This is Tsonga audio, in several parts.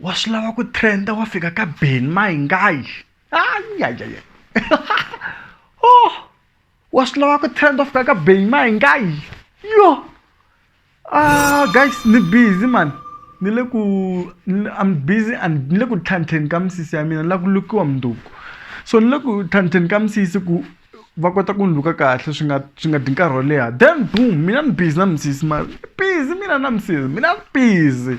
wa swi lava ku trenda wa fika ka ben maingayi ayayaya oh wa swi lava ku trend wa fika ka ben maingayi yo ah guys ni busy man ni le ku i'm busy and ni le ku tlhantlheni ka misisi ya mina ni lava ku lukiwa mundzuku so ni le ku tlhantlheni ka misisi ku va kota ku ni luka kahle swi nga swi nga dyi nkarhi wo leha then boom mina ni busy na misisi ma busy mina na misisi mina ni busy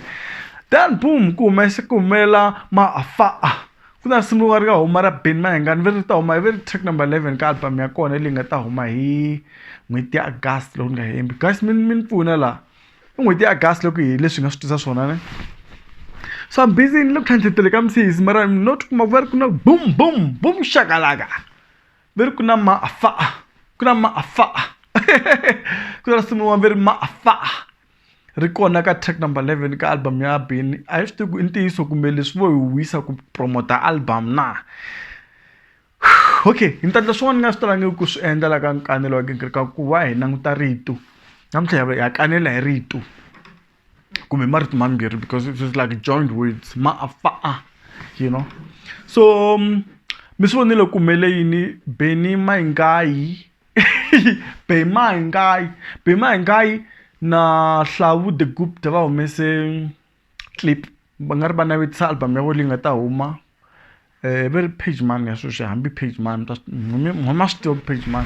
then boom ku humesa ku humelela maafaa ku na risimu rin'wana ri nga huma ra Benny Mayengani ve ri ta huma ve ri track number eleven ka album ya kona leyi nga ta huma hi n'hweti ya August loko ni nga hembi guys mi mi ni pfuna laha i n'hweti ya August loko hi leswi hi nga swi tisa swona ne so I'm busy ni le ku tlhantlheteni ka misisi mara not kuma ku va ri ku na boom boom boom shakalaka. Ver ku na ma afa. Ku na ma afa. ku na risimu rin'wana va ri ma afa. Ri kona ka track number eleven ka album ya Benny. A hi swi tivi ku i ntiyiso kumbe leswi vo hi wisa ku promote-a album na. Okay ni ta endla swin'wana ni nga swi talangiki ku swi endla la ka kanelo wa gingiriko ku va hi languta rito. Namuntlha hi ya kanela hi rito. kumbe marito mambirhi because it is like joint words ma a fa a you know so um, mi swi vonile ku humele yini beni maingayi be maingayi be maingayi na hlawu the gupta va humese clip va nga ri va navetisa album ya vo leyi nga ta huma um va ri page man ya sweswi hambi page man homa swi tiva page man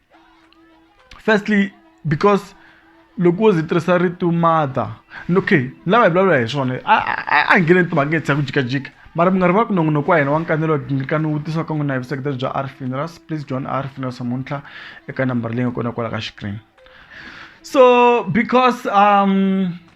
firstly because loko wo zi tirhisa rito mother okay lava hi vulavula hi swona a a hi ngheneni timhaka hi tsaya ku jikajika mara mi nga ri va ku nongonoko wa hina wa nkanelo ngirikani wu tisa ka n'wina hi vuseketeri bya r funerals please join r funerals namuntlha eka nambara leyi nga kona kwala ka xikrini so because um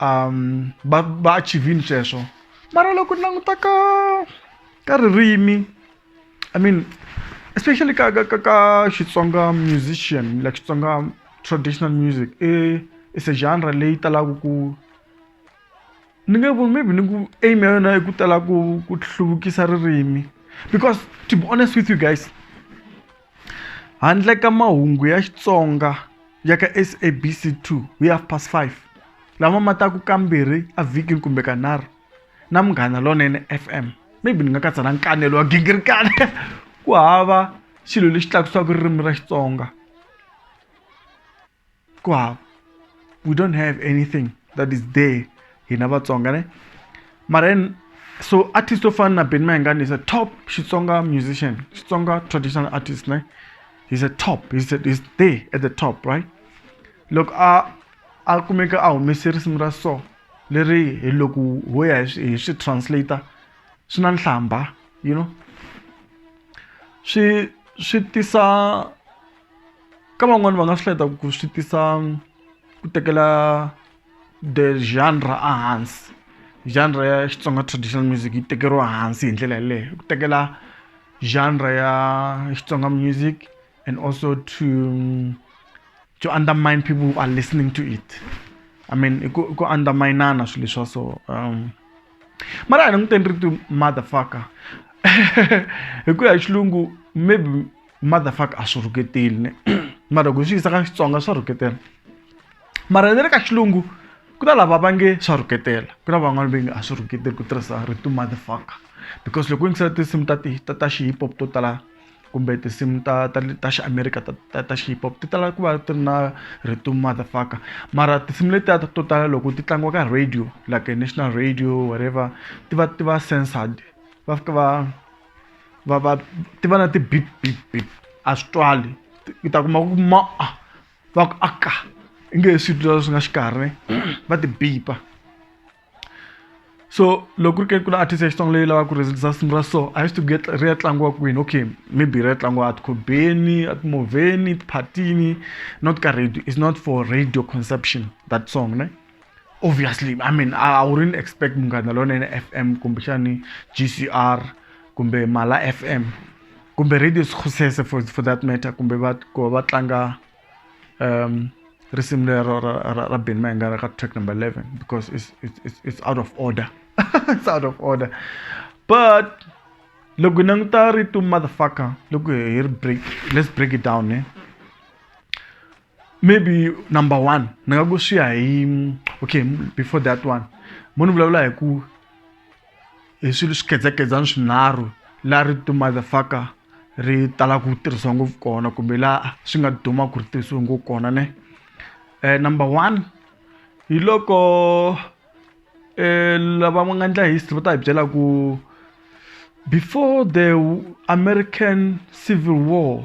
um va va achivhile sweswo mara loko ni languta ka ka ririmi I mean especially ka ka ka ka Xitsonga musician like Xitsonga traditional music i is a genre leyi talaka ku ni nge ku maybe ni ku aim ya yona i ku tala ku ku hluvukisa ririmi because to be honest with you guys. Handle ka mahungu ya Xitsonga ya ka SABC 2 hi 5:30 lama ma taka kambirhi evhikini kumbe kanharhu na Munghana Lonene FM, maybe ni nga katsa na nkanelo wa gingirikani ku hava xilo lexi tlakusaka ririmi ra Xitsonga. kwav we don't have anything that is there hina vatsonga ne mara so artist to fana na ben mayengani is a top xitsonga musician xitsonga traditional artist ne he's a top he's, a, he's there at the top right loko a a kumeka a humese risimu ra so leri hi loko ho ya hi swi translator swi na nhlamba you know swi swi tisa ka van'wani va nga swi hleketa ku swi tisa ku tekela the genre a hansi genre ya Xitsonga traditional music yi tekeriwa hansi hi ndlela yeleyo ku tekela genre ya Xitsonga music and also to to undermine people who are listening to it I mean i ku i ku undermine-ana swilo leswa so mara a hi languteni rito mother fucker hi ku ya hi xilungu maybe. mother fuck a swi rhuketeli ne mara loko hi swi yisa ka xitsonga swa rhuketela mara ni le ka xilungu ku na lava va nge swa rhuketela ku na van'wana va nge a swi rhuketeli ku tirhisa rito mother fuck because loko u yingisela tinsimu ta ti ta ta xi hip hop to tala kumbe tinsimu ta ta ta xi america ta ta ta xi hip hop ti tala ku va ti ri na rito mother fuck mara tinsimu letiya ta to tala loko ti tlangiwa ka radio like national radio whatever ti va ti va censored va fika va va va ti va na ti-beep beep beep a swi twali u ta kuma ku ma a va ku a ka i nge he swi twi leswi nga xikarhi va ti bipa so loko ku ri ke ku na artist ya xitsonga leyi lavaka ku rhesilisa risimu ra so a yi swi tivi ku ri ya tlangiwa kwini okay maybe ri ya tlangiwa a tikhobeni a timovheni tiphatini not ka radio is not for radio conception that song ne obviously i mean i wouldn't expect munghana lonene fm kumbexani gcr kumbe mala fm kumbe radio sikhusese for, for that matter kumbe va ku va va tlanga um risimu lero ra, ra, ra ben mayengana ka track number 11 because it's, it's, it's, it's out of order it's out of order but loko hi languta rito motherfucker loko hi ri break let's break it down ne eh? maybe number one ni nga ku swi ya hi okay before that one mo ni vulavula hi ku hi swilo swi khedzakhedzana swinharhu laha ri to motherfucker ri tala ku tirhisiwa ngopfu kona kumbe laha swi nga duma ku ri tirhisiwe ngopfu kona ne um number one hi loko um lava va nga endla history va ta hi byela ku before the american civil war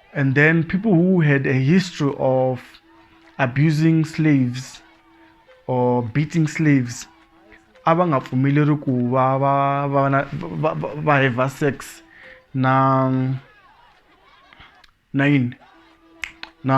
And then people who had a history of abusing slaves or beating slaves a va nga pfumeleri ku va va va na va va heva sex na na yini na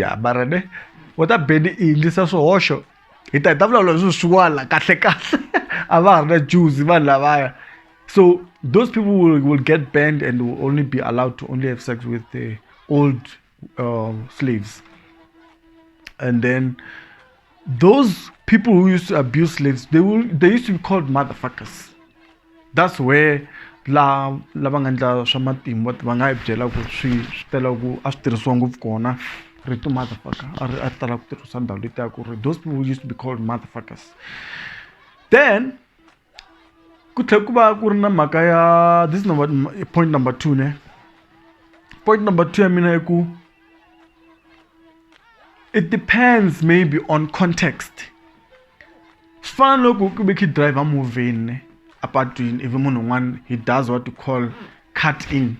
ya mara ne u ta beni i yindlisa swihoxo hi ta hi ta vulavula hi swisiwana kahle kahle a va ha ri na juzi vanhu lavaya so those people will, will get banned and will only be allowed to only have sex with the old uh, slaves and then those people who used to abuse slaves they will they used to be called motherfuckers that's where la lava nga endla swa matimba va nga yi byela ku swi swi tela ku a swi tirhisiwa ngopfu kona rito motherfucker a ri a tala ku tirhisa ndhawu letiya ku ri those people used to be called motherfuckers then ku tlhela ku va ku ri na mhaka ya this is number point number two ne point number two ya mina i ku it depends maybe on context swi fana loko ku ve khe driver movheni ne apatwini ivi munhu un'wana he does what you call cut in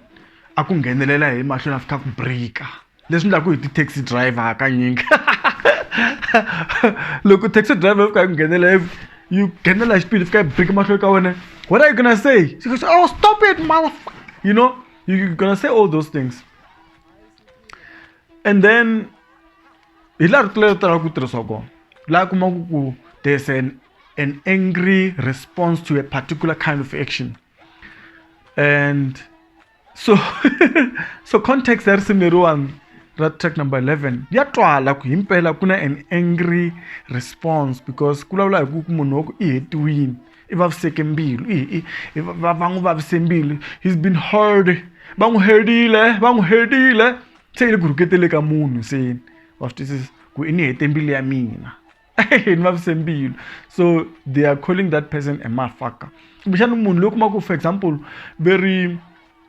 a ku nghenelela hi mahlweni a fika ku breaker leswi ndlaku hi ti-taxi driver hakanyingi loko taxi driver fika hi ku nghenela yi nghenela hi xipidi fika yi biki mahlweni ka wena what are you gonna say she goes oh stop it mother you know you're gonna say all those things and then hi laha rito leri talaka ku tirhisiwa kona laha kumaku ku there's an an angry response to a particular kind of action and so so context ya risimu leriwani ra track number 11 ya twala ku himpela ku na an angry response because ku vulavula hi ku ku munhu wa ku i hetiwini i vaviseke mbilu va n'wi vavise mbilu he's been heard va n'wi herile va n'wi herile se yi le ku rhuketele ka munhu se wa swi twisisa ku i ni hete mbilu ya mina ni vavise mbilu so they are calling that person a mafaka kumbexani munhu loyi kuma ku for example ve ri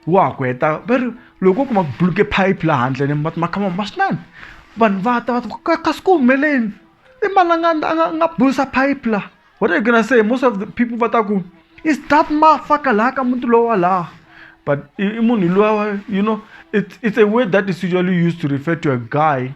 wa ha ku heta ve ri loko u kuma ku buluke pipe laha handle ni va ma khama ma swinene vanhu va ta va ta kasi ku humeleni i mani a nga a nga nga bulusa pipe laha what are you gonna say most of the people va ta ku is that mafaka laha ka muti lowa laha but i munhu lowa you know it's, it's a word that is usually used to refer to a guy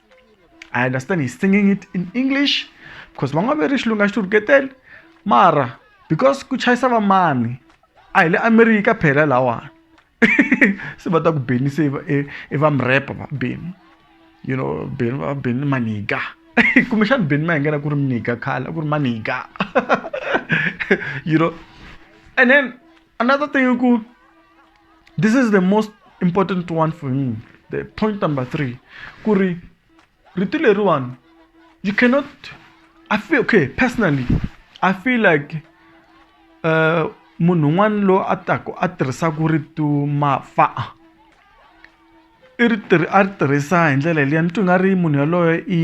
I understand he's singing it in English because va nga ve ri xilunga xi rhuketele mara because ku chayisa va mani a hi le America phela lawani se va ta ku beni se i va mrepa va beni you know beni va beni maniga kumbexana beni ma hi ngena ku ri mniga khale a ku ri maniga you know and then Another thing, this is the most important one for me. The point number three. Kuri, ritual one. You cannot. I feel okay personally. I feel like uh, munhu un'wana loyi a taku a tirhisaka rito mafa i ri tirhi a ri tirhisa hi ndlela liya ni twi nga ri munhu yaloye i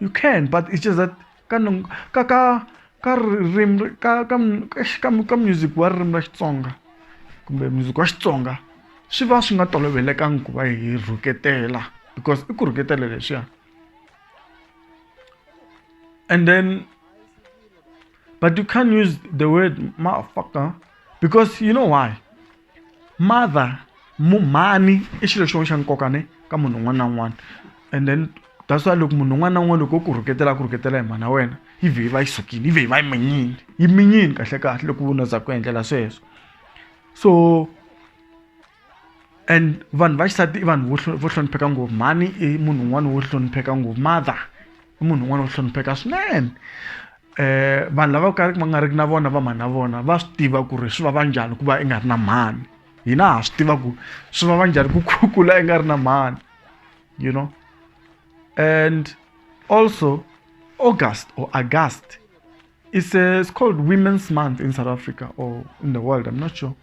you can but it's just that ka ka ka ka ririmi ka ka ka ka music wa ririmi ra xitsonga kumbe music wa xitsonga swi va swi nga tolovelekangi ku va hi rhuketela because i ku rhuketela leswiya and then but you can't use the word motherfucker because you know why mother mu mhani i xilo xin'wana xa nkoka ne ka munhu un'wana na un'wana and then that's why loko munhu un'wana na un'wana loko wo ku rhuketela a ku rhuketela hi mhana wena yi vhe yi va yi sukile yi vhe yi va yi minyile yi minyile kahle kahle loko u za ku endlela sweswo so and vanhu va xisati i vanhu vo hlonipheka ngopfu mhani i munhu un'wana wo hlonipheka ngopfu mother i munhu un'wana wo hlonipheka swinene eh vanhu lava ka va nga ri na vona va mhani na vona va swi tiva ku ri swi va va njhani ku va i nga ri na mhani hina ha swi tiva ku swi va va njhani ku kukula i nga ri na mhani you know and also august or august it's, a, it's called women's month in south africa or in the world i'm not sure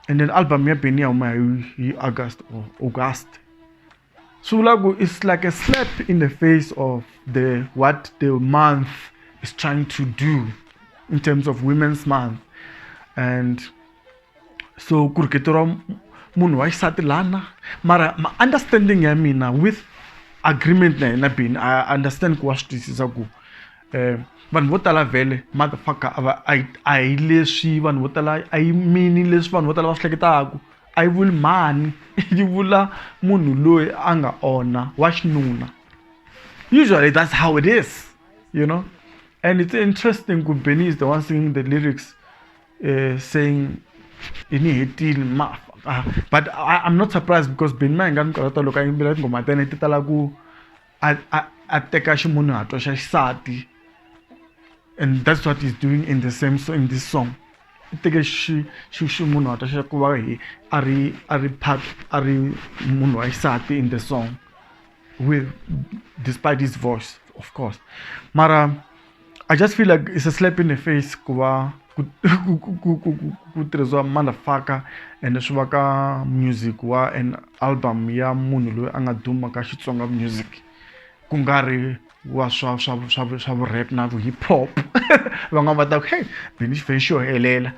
and then album ya benia huma hi august or august Sulagu is like a slap in the face of the what the month is trying to do in terms of women's month and so ku ri keto ra munhu wa xisati lana mara ma-understanding ya mina with agreement na yena bini i understand ku wa swi twisisa ku um vanhu vo tala vhele motherfucker a va a hi leswi vanhu vo tala a yi mini leswi vanhu vo tala va swi hleketaku I will mhani yi vula munhu loyi a nga onha wa xinuna usually that's how it is you know and it's interesting ku benny is the one singing the lyrics uh, saying ini hetile ma ah, but I, i'm not surprised because benny na hi nga ni karata loko a yimbelela tinghoma tene ti tala ku a a a teka ximunhuhatwa xa xisati and that's what he's doing in the same so in this song i teke xi xi ximunhuhatwa xa ku va hi a ri a ri part a ri munhu wa xisati in the song with despite his voice of course mara. I just feel like it's a slap in the face ku va ku ku ku ku ku tirhisiwa motherfucker ende swi va ka music wa an album ya munhu loyi a nga duma ka Xitsonga music ku nga ri wa swa swa swa swa vu-rap na vu-hip hop van'wani va ta ku heyi Benny Xifenxo xo helela.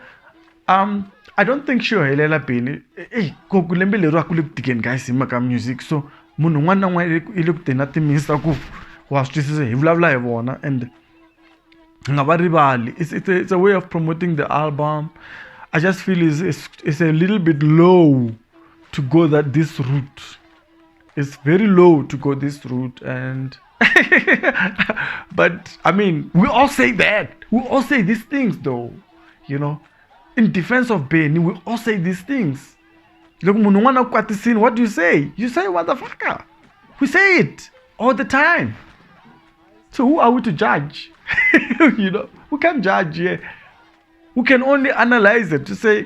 I don't think xi yo helela beni eyi ko ku lembe leri a ku le ku tikeni guys hi mhaka music so munhu un'wana na un'wana i i le ku teni a ti mixer ku wa swi twisisa hi vulavula hi vona ende hi nga va rivali it's it's a it's a way of promoting the album I just feel is is is a little bit low to go that this route. it's very low to go this route and but i mean we all say that we all say these things though you know in defense of Benny, we all say these things loko munhu un'wana ku kwatisini what do you say you say what the fucker we say it all the time so who are we to judge you know we can't judge here we can only analyze it to say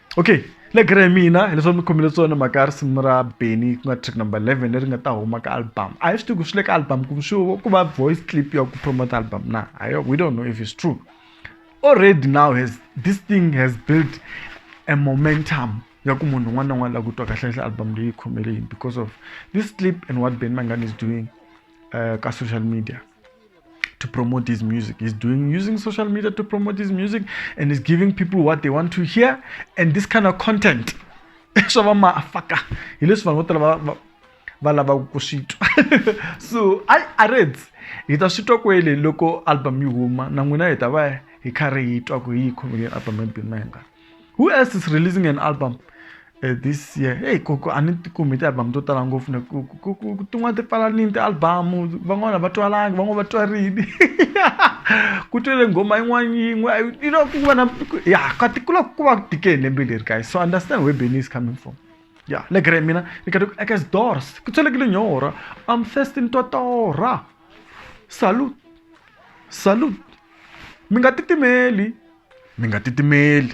okay le gere mina hi leswi mi khomile tsona mhaka ya risimu ra beny ku nga track number 11 leri nga ta huma ka album a hi swi tivi ku swi le ka album kumbe swi ku va voice clip ya ku promote album na ayo we don't know if it's true already now has this thing has built a momentum ya ku munhu un'wana na un'wana la ku twa kahlekahle album leyi khomeleni because of this clip and what ben mangan is doing uh, ka social media to promote his music. He's doing using social media to promote his music and he's giving people what they want to hear and this kind of content. so I a ri hi ta swi twa kwele loko album yi huma na n'wina hi ta va hi kha ri yi twa ku yi yi album ya who else is releasing an album uh, this year hey koko a ni tikumi ti-album to tala ngopfu ne tin'wana ti pfalanini ti-album van'wana va twalangi van'wana va twarini ku twele nghoma yin'wana yin'we you know ku va na ya ka tikula ku va tikeni lembe leri guys so understand where benny is coming from ya le gre mina ni ka eka doors ku tswelekile nyora am thirsty ni totora salute salute mi nga titimeli mi nga titimeli